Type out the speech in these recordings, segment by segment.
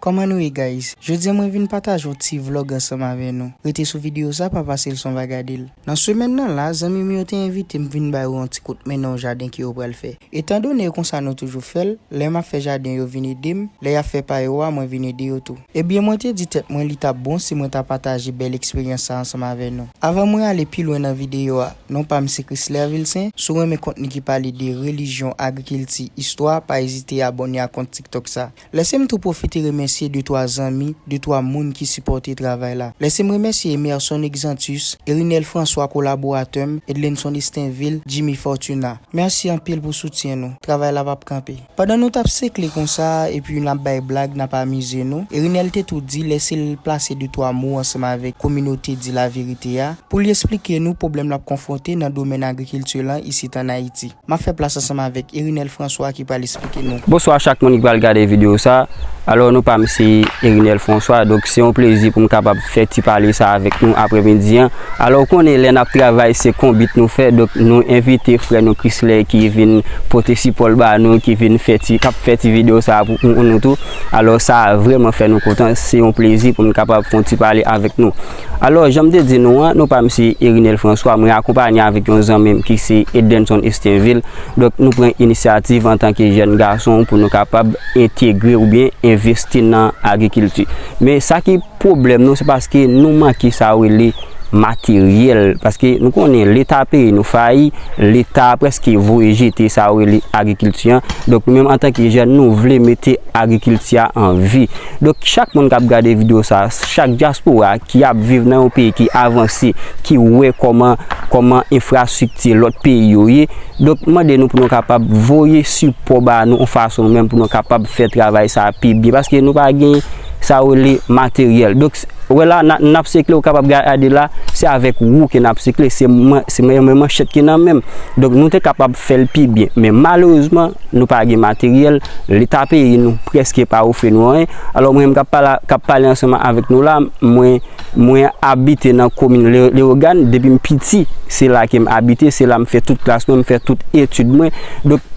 Kòman nou ye guys? Jodia mwen vin pataje yon ti vlog ansanm avè nou. Rete sou video sa pa pase l san w pa gade l. Nan semèn nan la, zanmi m yo te envite m vin ba yo yon ti kout men nan yon jaden ke yo pral fè. Etan done e konsa nou toujou fè l, lè m ap fè jaden yo vin ede m, lè y ap fè pa yo a mwen vin ede yo tou. Ebyen mwen te di tèt mwen li t ap bon si mwen ta pataje bèl eksperyans sa ansanm avè nou. Avan mwen ale pi lwen nan video a, non pa m se Chrisler Vilcin, si w renmen kontni ki pale de relijyon, agrikilti, istwa, pa ezite abòne ak kont tiktok sa. Lèse m tou pwofite remèsye de twa zanmi, de twa moun ki sipòte travay la. Lèse m remèsye Emerson Exantus, Erinel François kolaboratè m, Edlenson Estinvil, Jimmy Fortuna. Mèsi anpil pou soutyen nou. Travay la pap kanpe. Pandan nou t ap sekle konsa epi n ap bay blag, n ap amize nou, Erinel te tou di lèse l plase de twa mo ansanm avèk kominote Di Laverite a pou li esplike nou pwoblèm l ap konfwonte nan domèn agrikilti lan isit an Ayiti. M ap fè plas ansanm avèk Erinel François ki pral esplike nou. Bonswa chak moun ki pral gade video sa, alò nou pam se Erinel François donk se yon plezi poum kapab fè ti pale sa avèk nou aprè midi an, alò ou konnen lè nap travay se konbit nou fè donk nou envite frè nou Chrisley ki vin pote sipòl ba nou ki vin fè ti kap fè ti video sa pou nou tou, alò sa vrèman fè nou kontan se yon plezi poum kapab fon ti pale avèk nou. Alò, jan m te di nou an, nou pa msye Erinel François, mwen akonpanye avèk yon zanmi m ki se Eddenson Estinvil, donk nou pran inisyativ antanke jèn gason pou nou kapab entegre oubyen envesti nan agrikilti. Men sa ki pwoblèm nou se paske nou manke sa yo rele materyèl, paske nou konnen leta peyi nou fayi, leta prèske voye jete sa yo rele agrikilti an, donk nou menm antanke jèn nou vle mete agrikilti a an vi. Donk chak moun kap gade video sa, chak dyaspora ki ap viv nan yon peyi ki avanse, ki wè kòman kòman enfrastrikti lòt peyi yo ye, donk mande nou pou nou kapab voye sipò ba nou yon fason nou menm pou nou kapab fè travay sa pi byen paske nou pa gen sa yo rele materyèl. Ou wè la, nan ap sekle, ou kapab gade la, se avèk wou ke nan ap sekle, se yon men manchèt ki nan menm. Donk nou te kapab fè l pi byen. Men malerezman, nou pa gen materyèl, leta peyi nou prèske pa ofri nou anyen. Alò mwen menm k ap pale ansanman avèk nou la, mwen abite nan komin Lewogàn, depi m piti, se la ke m abite, se la m fè tout klas mwen, m fè tout etid mwen.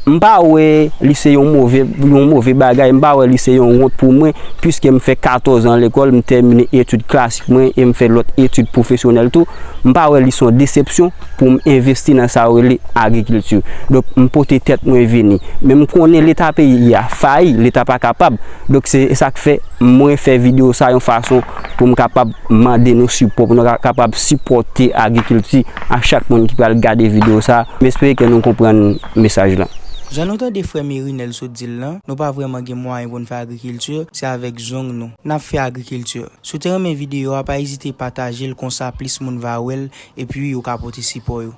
M pa wè li se yon move yon move bagay, m pa wè li se yon wont pou mwen, piske m fè 14 an lekòl, m tèmine etid klasik mwen e m fè lòt etid pwofesyonèl tou. M pa wè li se yon desepsyon pou m envesti nan sa yo rele agrikilti. Donk, m pote tèt mwen vini. Men m konnen leta peyi a fayi, leta pa kapab. Donk, se sa k fè mwen fè videyo sa yon fason pou m kapab mande nou sipò, pou nou kapab sipòte agrikilti. ak chak moun ki pral gade video sa, m espere ke nou konprann mesaj lan. Jan nou tande frè Merinel sot di l lan, nou pa vrèman gen mwayen pou n fè agrikilti, se avèk zong nou n ap fè agrikilti. Si w te renmen video a pa ezite pataje l konsa plis moun va wè l epi yo ka pote sipò yo.